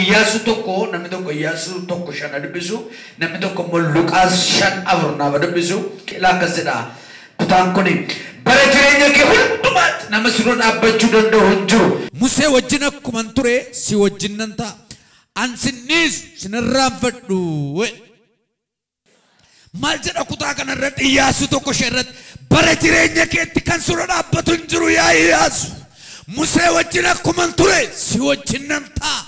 Iyyaasuu tokko namni tokko Iyyaasuu tokko shan ha dubbisu namni tokko immoo Luqaas shan afur naaf ha dubbisu qilaa akkas jedha kutaan kun bara jireenya kee hundumaatti nama si dura dhaabbachuu danda'u hin jiru. Musee wajjin akkuman ture si wajjin nan ta'a. An sin dhiisu sin irraanfadhu. Maal jedha kutaa kana irratti Iyyaasuu tokko ishee irratti bara jireenya keetti kan sura dhaabbatu hin jiru yaa Iyyaasu. Musee wajjin akkuman ture si wajjin nan ta'a.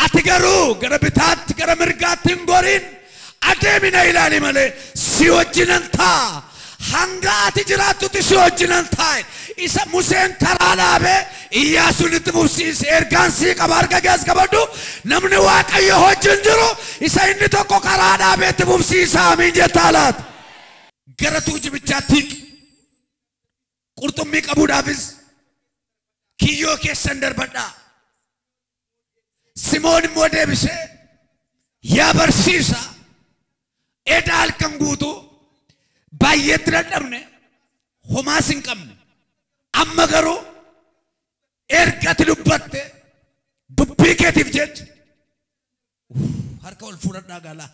Ati garuu gara bitaatti gara mirgaatti hin goriin adeemi na ilaali malee si wajjinan ta'a. Hanga ati jiraattutti si wajjinan taa'e. Isa Museen karaa dhaabee Iyyaasuun itti fufsiise. Ergaan sii qaba harka kees qabadhu. Namni Waaqayyo wajjin jiru isa inni tokko karaa dhaabee itti fufsiisa. Amiin jettaa laata? Gara tuujibichaatti hiqi. Qurxummii qabuudhaafis kiyyoo keessan darbadhaa. Simoon immoo deebisee yaa barsiisa eda halkan guutuu baay'eetti dadhabne homaas hin qabne amma garuu erga ati dubbatte dubbii keetiif jecha Uuff harka ol fuudhadhaa gaalaa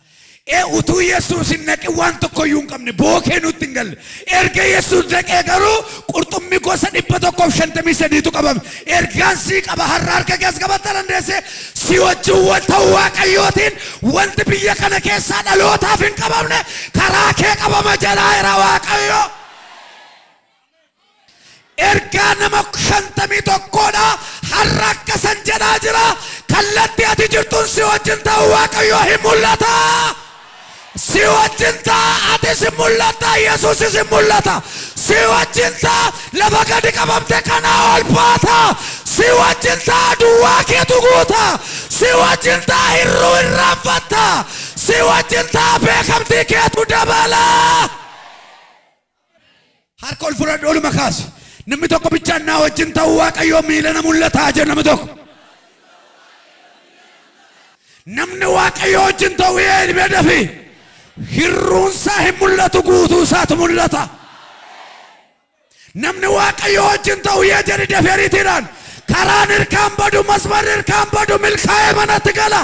ee utuu yesuus hin dhaqin waan tokko iyyuu hin qabne bookee nutti hin galle erga yesuus dhaqee garuu qurxummii gosa dhibba tokkoof shantamii sadiitu qabame ergaan sii qaba har'a harka kees qabatta dandeesse si wajjin wal ta'uu waaqayyootiin wanti biyya kana keessaa dhalootaaf hin qabamne karaa kee qabama jedhaa jira waaqayyoo. Ergaa nama 51 dha har'a akkasan jedhaa jira kallatti ati jirtun si wajjin ta'u waaqayyoo hin mul'ata si wajjin ta'a atis hin mul'atta yesuusis hin mul'ata si wajjin ta'a lafa gadi qabamte kanaa ol baata si wajjin ta'a duwwaa keetu guuta si wajjin ta'a hirruu irraanfatta si wajjin ta'a beekamtii keetu dabala Harka ol fudhadhu oluma kaasi. Namni tokko bichaan naa wajjin ta'uu Waaqayyoo miila na mul'ataa jedhu namni tokko. Namni Waaqayyoo wajjin ta'u ee ilmee dafi. Hirruunsaa hin mul'atu guutuu isaatu mul'ata. Namni Waaqayyoo wajjin ta'u ee jedhi dafi ariitiidhaan. Karaan hirkaan badu masmarri hirkaan badu milkaa'ee manatti gala.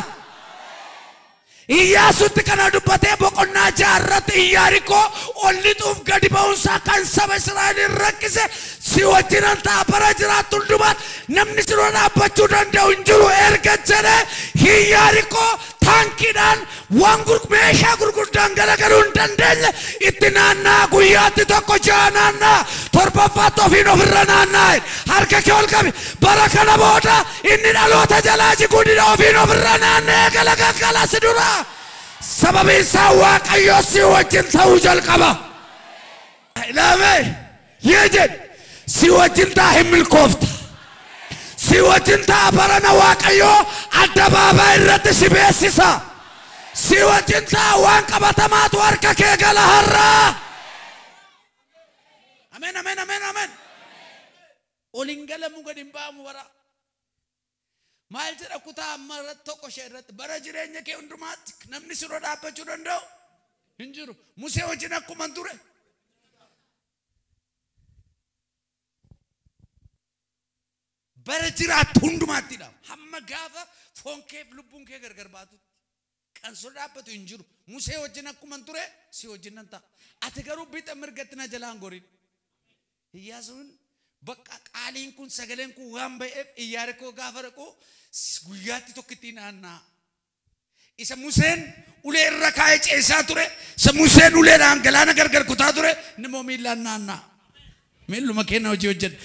Iyyaasuutti kana dubbatee boqonnaa 6 irratti Iyyaarikoo ol lixuuf gadi ba'uun isaa kan saba Israa'eliin rakkise, Si wajjinan ta'a, bara jiraattu hundumaatti namni si dura dhaabbachuu danda'u hin jiru erga jedhee, Iyyaarikoo taankiidhaan, waan meeshaa gurguddaan garagaruu hin dandeenye itti naanna'a, guyyaatti tokko ja'a naanna'a, torbaffaatti ofiin of irra naanna'a jedhe. Harka kee ol qabi. Bara kana booda. Inni dhaloota jalaa jiguu dide ofiin of irra naanna'ee galagaggala si dura, sababiin isaa Waaqayyo si wajjin ta'uu jalqaba. Ilaame, yee jedhi, si wajjin ta'a hin milkoofta. Si wajjin ta'a barana Waaqayyo addabaabaay irratti si beeksisa. Si wajjin ta'a waan qabatamaatu harka kee gala har'a. Amen, amen, amen, amen. Ol hin galamu gad hin ba'amu bara. Maal jedha kutaa amma irratti tokko ishee irratti bara jireenya kee hundumaatti namni si dura dhaabbachuu danda'u hin jiru. Musee wajjin akkuman ture. Bara jiraattu hundumaatti dha. Hamma gaafa foon keef lubbuun kee gargar baatutti. Kan sirra dhaabbatu hin jiru. Musee wajjin akkuman ture si wajjin nan ta'a. Ati garuu bixa mirgatti na jalaa hin gorin. Iyyaasuun, Baqqa, qaaliin kun, sagaleen kun waan ba'eef Iyyaarikoo gaafa dhaqu guyyaatti tokkittii naanna'a. Isa Museen ulee irra kaa'ee ceesaa ture, isa Museen uleedhaan galaana gargar kutaa ture, inni immoo miillaan naanna'a. Miilluma keenna hojii hojjenna.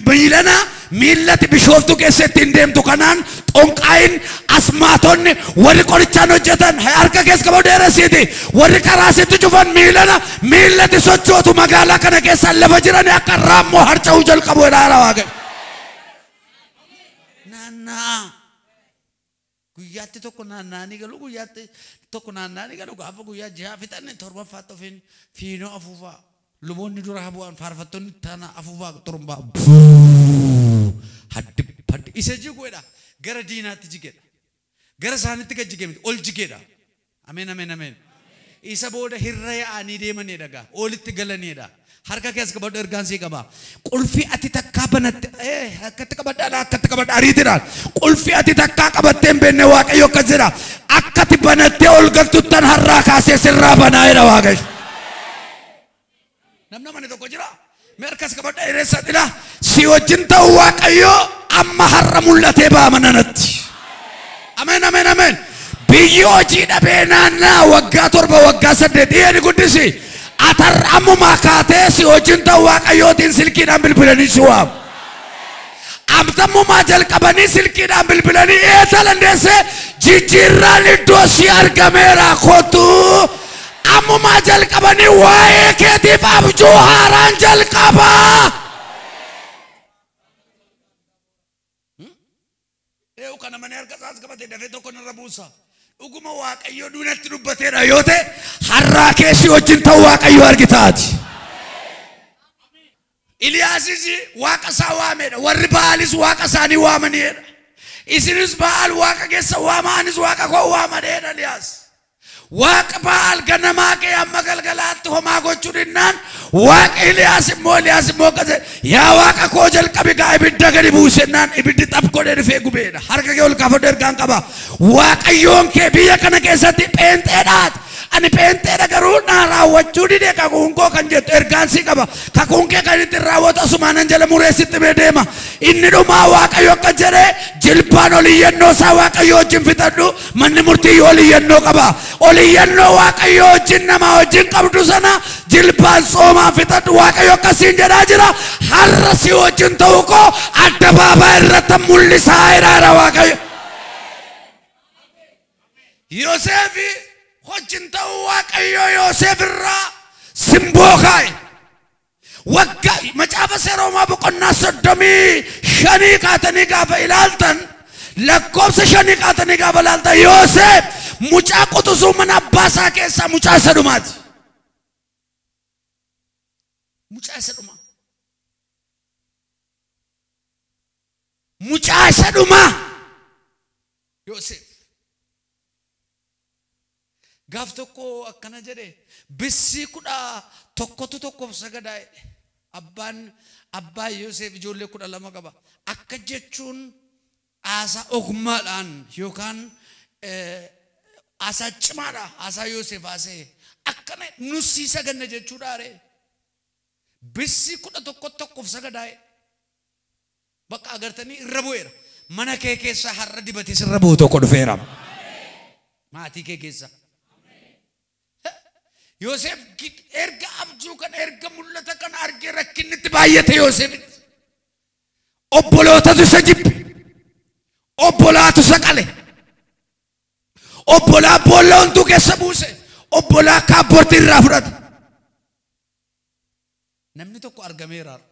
Miilana miillati Bishooftuu keessa ittiin deemtu kanaan xonqaayin, asmaatonni, warri qorichaan hojjetan harka kees qabu dheeressiiti. Warri karaa sitti cufan miilana miillati sochootu magaalaa kana keessa lafa jirani akka raammoo harca'uu jalqabu jedha Waaqayyo. Naanna'aa. Guyyaatti tokko naanna'anii galu, guyyaatti tokko naanna'anii galu, gaafa guyyaa ji'aa fixan torbaffaatti ofiin fiinoo afuufaa. Luboonni dura haa bu'an, faarfattoonni itti aanaa afuufaa xurumbaa Buuuu! Haddi Haddi Isa jigu jedha, gara diinaatti jige dha. Gara isaanitti gad jige miti, ol jige dha. Ameen Ameen Ameen Isa booda hirra ya'aanii deemaneedha gaa oolitti galaneedha harka kee as qabadhu ergaan sii qaba qulfii ati takkaa banatte ee akkatti qabadha ala akkatti qabadha ariitidhaan qulfii ati takkaa qabattee hin beenne waaqayyo akkas jedha akkati banattee ol galtuttan harraa kaasee sirraa banaa jedha waaqayyo Namni amane tokko jira. Mee harka as qabadha hireessa dhila. Si wajjin ta'u Waaqayyoo amma har'a mul'atee ba'a mana natti. Ameen ameen ameen. Biyyi hojii dhabee naannaa waggaa torba waggaa saddeet dhiyee ni guddisi. Atar ammumaa kaatee si wajjin ta'u Waaqayyootiin silkiidhaan bilbilanii si waamu. Abdammummaa jalqabanii silkiidhaan bilbilanii eetalan deesse jijjiirraan iddoo si argameera kottu ammumaa jalqabanii waa'ee keetiif abjuu haaraan jalqaba. Eewu kana manee harka isaas qabate dafee tokko narra buusa. Dhuguma Waaqayyo duunatti dubbateedha yoo ta'e har'aa keessi wajjin ta'u Waaqayyo argitaati. Iliyaasis waaqa isaa waameedha, warri Ba'aalis waaqa isaanii waamaniiedha. Isinis Ba'aal waaqa keessan waamaa, anis waaqa koo waama jedheedha Iliyaas. Waaqa Ba'aal ganamaa ka'ee hamma galgalaatti homaa gochuu dhinnaan waaqa Iliyaas immoo Iliyaas immoo akkas jedhe, yaa waaqa koo jalqabi gaa ibidda gadi buusi jennaan ibiddi xaph godhee dhufee gubeedha. Harka kee ol kaafadhu ergaan qaba. Waaqayyoon kee biyya kana keessatti pheenxeedhaati. Ani pheenxeedha garuu naa raawwachuu dide kakuun koo kan jettu ergaan si qaba kakuun kee kan ittin raawwatu asumaanan jala muree sitti himee deema inni dhumaa waaqayyo akka jedhe jilbaan ol iyyannoo isaa waaqayyo wajjin fixadhu manni murtii ol iyyannoo qaba ol iyyannoo waaqayyo wajjin namaa wajjin qabdu sana jilbaan tsoomaan fixadhu waaqayyo akkasiin jedhaa jira har'a si wajjin ta'uu koo adda baabaa irratti mul'isaa jiraadha waaqayyo Yoseefi hojin ta'uu Waaqayyoo Yoseef irraa simboo kaa'e. Wagga macaafa seeroomaa boqonnaa soddomii shanii kaatanii gaafa ilaaltan lakkoofsa shanii kaatanii gaafa ilaaltan Yoseef mucaa quxusuu mana abbaa isaa keessaa mucaa isa dhumaati. Mucaa isa dhumaa. Mucaa isa dhumaa. Yoseef. Gaaf tokko akkana jedhe, bissii kudha tokkotu tokkoof sagadaa jedhe. Abbaan abbaa Yoseef ijoollee kudha lama qaba. Akka jechuun haasaa ogummaadhaan yookaan haasaa cimaadha haasaa Yoseef haasa'e. Akkana nus sii saganna jechuudhaa ree? Bissii kudha tokko tokkoof sagadaa jedhe. Bakka agartanii irra bu'eera. Mana kee keessa har'a dibati sirra bu'u tokko dhufeera. Maatii kee keessa. Yooseef erga abjuu kana erga mul'ata kana argee rakkinni itti baay'ate Yooseefitti. Obbolootatu isa jibbe. Obbolaatu isa qale. Obbolaa boolla hunduu keessa buuse. Obbolaa kaabbortii irraa fudhate. Namni tokko argameera har'a.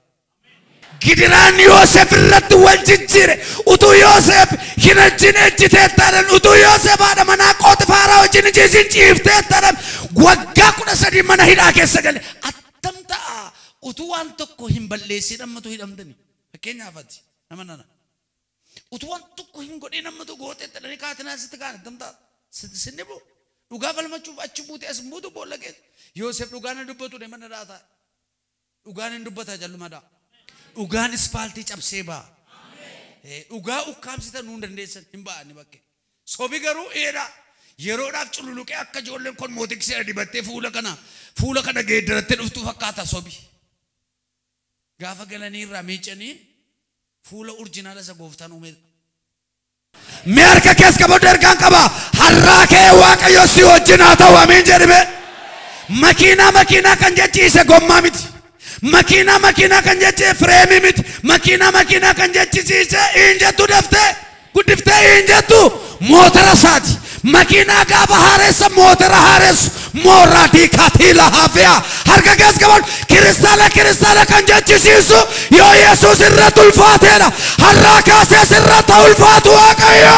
Gidiraan Yooseef irratti wal jijjiire. Utuu Yooseef, Hin ejjin, ejjiteetta jedhan. Utuu Yooseef haadha manaa Phoxifaaraa wajjin hin ciisin, ciifteetta jedhan. Waggaa 13 mana hidhaa keessa gale. Attam ta'a utuu waan tokko hin balleessiin ammatu hidhamtani? Fakkeenyaaf ati nama nana. Utuu waan tokko hin godhiin amma tokko goote itti dhanii kaatinaa sitti kaan attam ta'a? Sitti sin dhibu? Dhugaa falmachuuf achi buutee as hin buutu boolla keessa. Yoosef dhugaan hin dubbatu deema na dha'a taa'e. Dhugaan hin dubbata jalluma dha'a. Dhugaan ispaaltii cabsee ba'a. Eh, Dhugaa ukkaamsitan nuu hin dandeessan hin ba'a inni bakkee. Sobi garuu eedha. Yeroodhaaf cululuqee akka ijoolleen kosmootiksii dibattee fuula kana fuula kana geeddarattee dhuftuu fakkaata sobi. Gaafa galanii irraa miicanii fuula urjinaala isa gooftaan uumee dha. Mee harka kees qabadhu ergaan qaba. Har'aa kee Waaqayyo si wajjin haa ta'u amiin jedhi mee. Makiinaa makiinaa kan jechiise gommaa miti. Makiinaa makiinaa kan jechiise fireemii miti. Makiinaa makiinaa kan jechisiise hin jettu daftee. guddiftee hin jettu mootara isaati makiinaa gaafa haareessa mootara haareessu mooraa diikaatii lahaafia harka kees qabadhu kiristaana kiristaana kan jechisiisu yoo yesuus irratti ulfaateedha har'aa kaasees irratti ulfaatu waaqayyo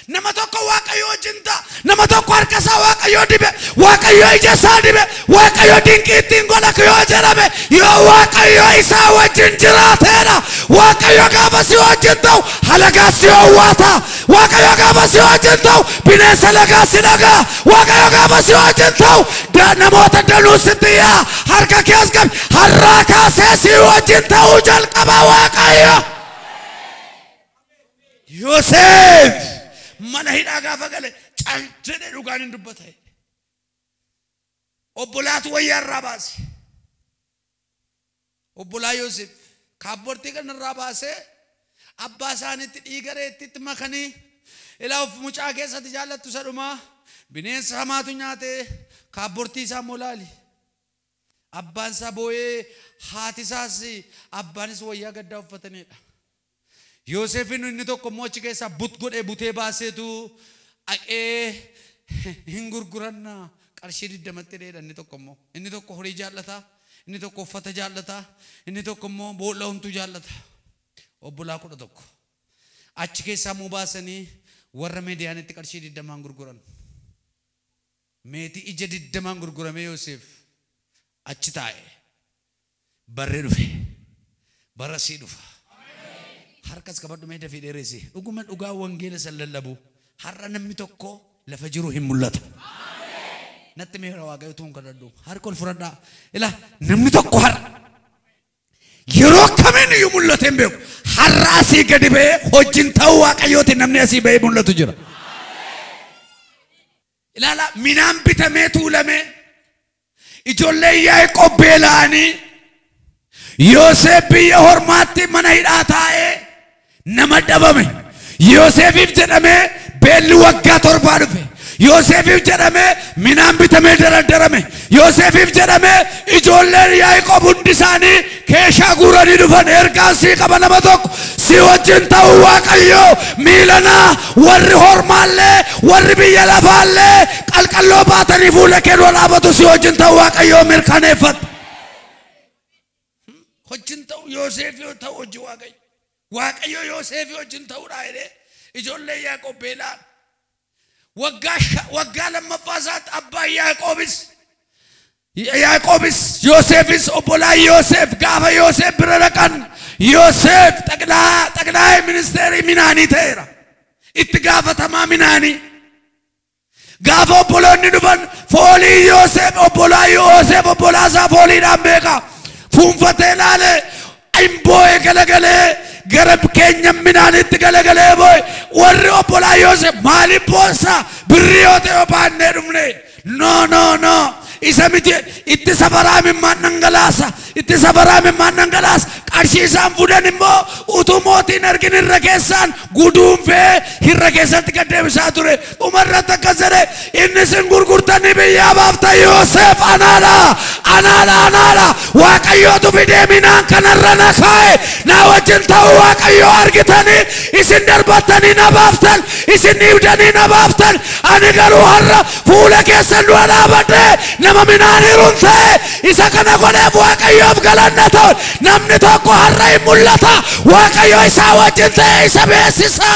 Nama tokko waaqayyo wajjin ta'a. Nama tokko harka isaa waaqayyo dibe. Waaqayyo ija isaa dibe. Waaqayyo dinqii ittiin godha yoo jedhame yoo waaqayyo isaa wajjin jiraateedha. Waaqayyo gaafa si wajjin ta'u halagaa si hawwaata. Waaqayyo gaafa si wajjin ta'u bineensa lagaa si dhagaa. Waaqayyo gaafa si wajjin ta'u da- namoota danuu sitti yaa harka kees qabi har'aa kaasee si wajjin ta'uu jalqaba waaqayyo. Yoseef mana hidhaa gaafa gale cal jedhe dhugaan hin dubbata jedhe. Obbolaatu wayyaa irraa baase. Obbolaa Yoseef kaabbortii kana irraa baasee abbaa isaaniitti dhiiga reettiitti makanii ilaa of mucaa keessatti jaallattu isa dhumaa bineensa hamaatu nyaatee kaabbortii isaa immoo laali. Abbaan isaa booyee haati isaas abbaanis wayyaa gaddaa uffataniidha. Yooseefiin inni tokko immoo achi keessaa but godhee butee baaseetu dhaqee hin gurguranna qarshii 20tti hidheedha inni tokko immoo. Inni tokko horii jaallata, inni tokko uffata jaallata, inni tokko immoo boolla homtuu jaallata. Obbolaa 11. Achi keessaa immoo baasanii warra Mediyaanitti qarshii 20n gurguran. Meetii ija 20n gurguramee Yooseef achi taa'e. Barri dhufe. Bara sii dhufa. Harkas qabadhu mee dafii dheeresi. Dhuguma dhugaa wangeela san lallabu har'a namni tokko lafa jiru hin mul'atu. Natti meera waaqayyo tuun kadhadhu. Harka ol fudhadhaa. Ila namni tokko har'a yeroo akkamiin iyyuu mul'atee hin beeku. Har'a asii gadi ba'ee hojiin ta'uu waaqayyooti namni asii ba'ee mul'atu jira. Ilaalaa, minaan bitamee tuulamee, ijoolleen Yaaqoob beela'anii, Yooseef biyya hormaatti mana hidhaa taa'ee nama dhabame. Yooseefiif jedhamee beelli waggaa torbaa dhufe. Yooseefiif jedhamee minaan bitamee dardarame. Yooseefiif jedhamee ijoolleen Yaaqoob hundi isaanii keeshaa guuranii dhufan ergaan sii qaba nama tokko sii wajjin ta'uu Waaqayyoo miilanaa warri hormaallee warri biyya lafaallee qalqalloo baatanii fuula kee dura dhaabatu sii wajjin ta'uu Waaqayyoo mirkaneeffadhu. Wajjin ta'u Yooseef yoo ta'u hojii Waaqayyo. Waaqayyo Yooseefii wajjin ta'uudhaa jedhee ijoollee Yaaqoob beela'an. Waggaa sha- waggaa lammaffaa isaatti abbaan Yaaqoobis Yaaqoobis Yooseefis obbolaan Yooseef gaafa Yooseef bira dhaqan Yooseef xaqilaa xaqilaa'ee ministeerii minaanii ta'eera. Itti gaafatamaa minaanii. Gaafa obboloonni dhufan foolii Yooseef obbolaa Yooseef obbolaa isaa fooliidhaan beeka. Fuunfatee laalee hin boo'e galagalee gara keenyan midhaaniitti galagalee boo'e. Warri obbolaa Yooseef maaliif boossaa birrii yoo ta'e yoo baannee dhufne no no no isa miti itti safaraa mimmaan dhangalaasa Itti safaraa imimmaan dhangalaasa. Qarshii isaan fuudhan immoo utuu mootii hin argin irra keessaan guduunfee irra keessatti gad deebisaa ture. Dhuma irratti akkas jedhe, Inni isin gurgurtanii biyyaa baaftan Yoseef anaadha! Anaadha! Anaadha! Waaqayyootu fidee minaan kanarra na kaa'e. Naa wajjin ta'uu Waaqayyoo argitanii isin darbattanii na baaftan, isin dhiibdanii na baaftan. Ani garuu har'a Fuula keessan dura dhaabadhee nama midhaan hirun ta'ee isa kana godheef Waaqayyoof galanna ta'u. Namni tokko har'a in mul'ata, Waaqayyo isaa wajjin ta'ee isa beeksisa.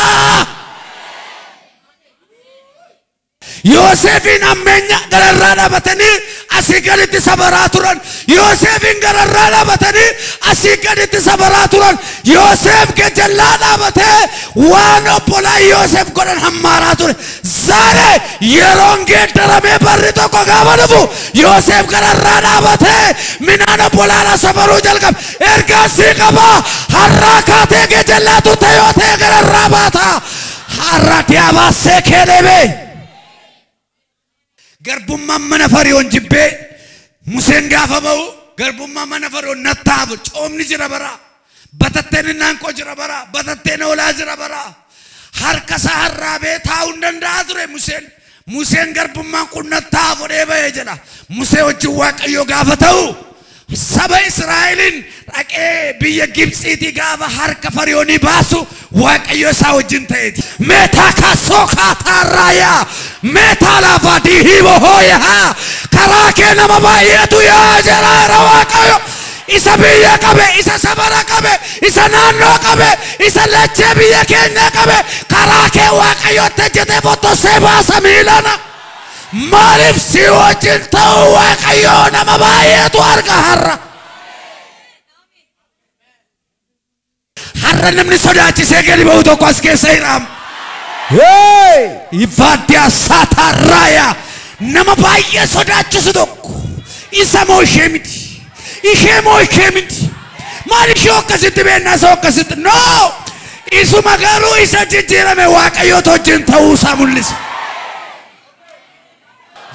Yooseefiin hammeenya gara irraa dhabatanii asii gaditti sabaraa turan Yooseefiin gararraa dhaabatanii asii gaditti sabaraa turan Yooseef gajallaa dhaabatee waan obbolaa Yooseef godhan hammaaraa ture zaare yeroon geeddaramee barri tokko gaafa dhufu Yooseef gararraa dhaabatee minaan obbolaadha sabaruu jalqabe ergaan sii qabaa harraa kaatee gajallaa turte yoo ta'e gararraa baata har'a diyaabaa seekee deebee. Garbummaan mana Fari'oon jibbee Museen gaafa ba'u garbummaan mana Fari'oon nattaaf coomni jira bara batatteen innaanqoo jira bara batatteen hoolaa jira bara harka isaa harraabee taa'uu hin danda'a ture Museen Museen garbummaan kun nattaaf fudhee ba'e jedha Musee wajjin Waaqayyoo gaafa ta'u Saba Israa'eliin dhaqee biyya Gibtsiitii gaafa harka Fariyoonii baasu Waaqayyo isaa wajjin ta'eeti. Meetaa kaasoo kaataa raayaa meetaa laafaa dihiibo hooyahaa karaa kee nama baay'eetu yaa jiraara Waaqayyo. Isa biyya qabe, isa safara qabe, isa naannoo qabe, isa lachee biyya keenya qabe karaa kee Waaqayyo itti hojjetee fottosee baasa miilana. Maaliif sii wajjin ta'uu Waaqayyoo nama baay'eetu arga har'a. Har'a namni sodaachisee gadi ba'u tokko as keessa hiraam. Hey! Ivaaddiyaa saataa raayaa nama baay'ee sodaachisu tokko isa moo ishee miti. ishee moo ishee miti maal ishee akkasitti beennaa isa akkasitti no isuma garuu isa jijjiirame waaqayyoota wajjin ta'uu isaa mul'isa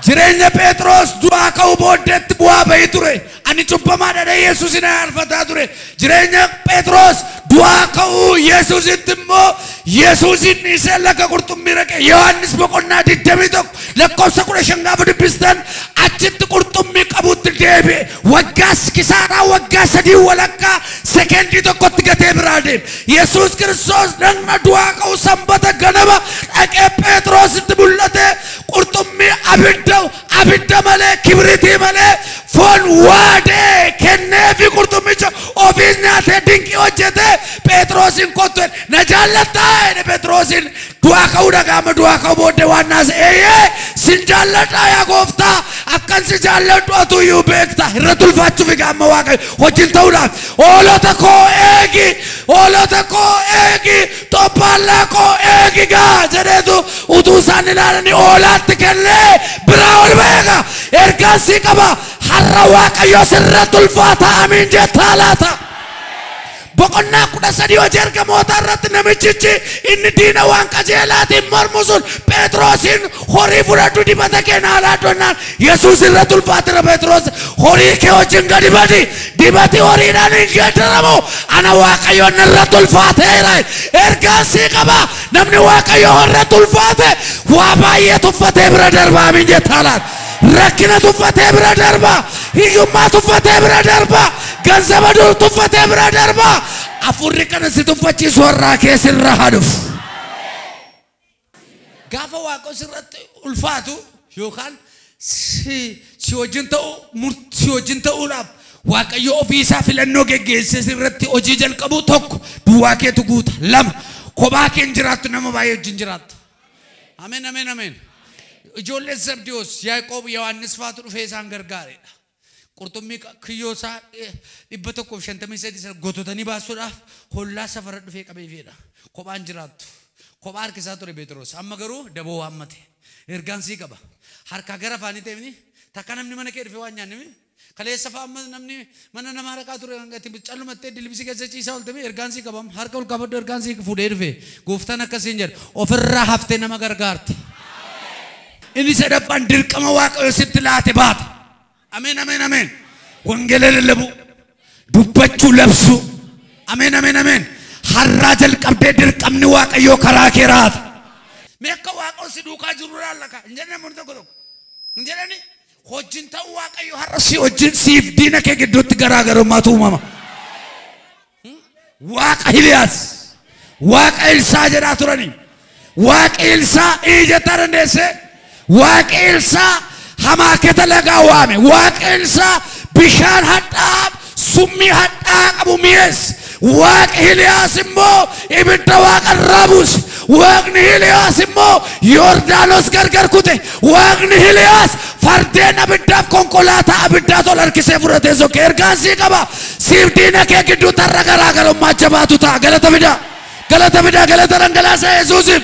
jireenya pheexroos du'aa ka'uu booddeetti bu'aa ba'ii ture ani cubbamaadha yesuusin arfataa ture Jireenya Phexros du'aa ka'uu Yesuusitti immoo Yesuusiin dhiisee laga qurxummii dhaqe. Yohaannis boqonnaa 21 lakkoofsa 15 gaafa dubbistan achitti qurxummii qabuutti deebi'e. Waggaa kisaaraa waggaa sadii walakkaa sekendii tokkotti gatee biraa deeme. Yesuus Kiristoos dhagna du'aa ka'u sanbata ganama dhaqee Phexrositti mul'ate qurxummii abidda Abidda malee, kibritii malee, foon waadee kenneefii qurxummicha ofiis nyaatee dinqii hojjetee Pheexiroosiin kottu jedhe. Na jaallattaa? jedhe Pheexiroosiin. Du'aa ka'uu dhagaa amma du'aa ka'uu booddee waan naase eeyyee sin jaalladhaa yaa gooftaa akkan si jaalladhu atuu iyyuu beekta irratti ulfaachuuf egaa amma waaqayyo wajjin ta'uudhaaf hoolota koo eegi hoolota koo eegi Xobbaallaa koo eegi gaa! jedheetu utuu isaan ilaalanii hoolaatti kennee biraa ol ba'e gaa! Ergaan sii qaba, har'a Waaqayyo sirratti ulfaata, amiin jettaa laata? Boqonnaa 13 Hojii Ergamootaa irratti namichichi inni diina waan qajeelaatiin mormu sun Phexrosiin, Horii fudhadhu dibata kee naa laadhu jennaan, Yesuus irratti ulfaatira Pheexiroos horii kee wajjin gadi badi dibati horiidhaan hin geeddaramu ana waaqayyoon narratti ulfaateera ergaan sii qaba namni waaqayyo irratti ulfaate waa baay'ee tuffatee bira darbaa min jettaa laata rakkina tuffatee bira darbaa hiyyummaa tuffatee bira darbaa ganzaba dur tuffatee bira darbaa afurri kana si tuffachiisu har'aa kee sirra haa dhufu. Gaafa Waaqon sirratti ulfaatu yookaan si si wajjin ta'uu mur si wajjin ta'uudhaaf Waaqayyo ofii isaa filannoo geggeessee sirratti hojii jalqabu tokko duwwaa keetu guuta lama kophaa kee hin jiraattu nama baay'ee wajjin jiraatta. Ameen ameen ameen. Ijoollee Zabdiwoos Yaaqoob Yohaannis faatu dhufee isaan gargaareedha. Qurxummii ka- kiyyoo isaa eh, 153 sana gototanii baasuudhaaf hollaa safara dhufee qabee fiedha. Kophaan jiraattu. Kophaa harkisaa ture Beexiroos. Amma garuu daboo waammate. Ergaan sii qaba. Harkaa gara afaanii ta'eefni takka namni mana kee dhufee waan nyaanne mi? Kaleessa fa'a amma namni mana namaa dhaqaa ture hanga itti callumattee dilbisii keessa ciisaa oolte mi? Ergaan sii qabam. Harka ol kaafadhu ergaan sii fuudhee dhufe. Gooftaan akkasiin jedha. Ofirraa haftee nama gargaarta. Inni sadaffaan dirqama Waaqayyo sitti laate baata. Ameen, ameen, ameen. Wangeela lallabuu, dubbachuu, labsuu. Ameen, ameen, ameen. Har'aa jalqabdee dirqamni Waaqayyoo karaa kee raata. Mee akka Waaqayyo si duukaa jiru ilaalla kaa. Hin jedhan namoonni tokko tokko. Hin jedhani hojiin ta'uu Waaqayyo har'a si wajjin siif diina kee gidduutti garaagarummaatu uumama. Waaqa Hiliyaas, Waaqa Ilsaa jedhaa turani. Waaqi Ilsaa ii jettaa dandeesse? Waaqi Ilsaa hamaaketa lagaa waame. Waaqi Ilsaa bishaan hadhaa'aa summii hadhaa'aa qabu mi'eesse. Waaqi Hiliyaas immoo ibidda waaqa irraa buuse. Waaqni Hiliyaas immoo Yordaanos gargar kute. Waaqni Hiliyaas fardeen abiddaaf konkolaataa abiddaa tol harkisee fudhatee sokke. Ergaan sii qaba. Siif diina kee gidduutti har'a garaagarummaa jabaatu ta'a. Galata fidaa! Galata fidaa! Galata dhangalaasa Yesuusiif!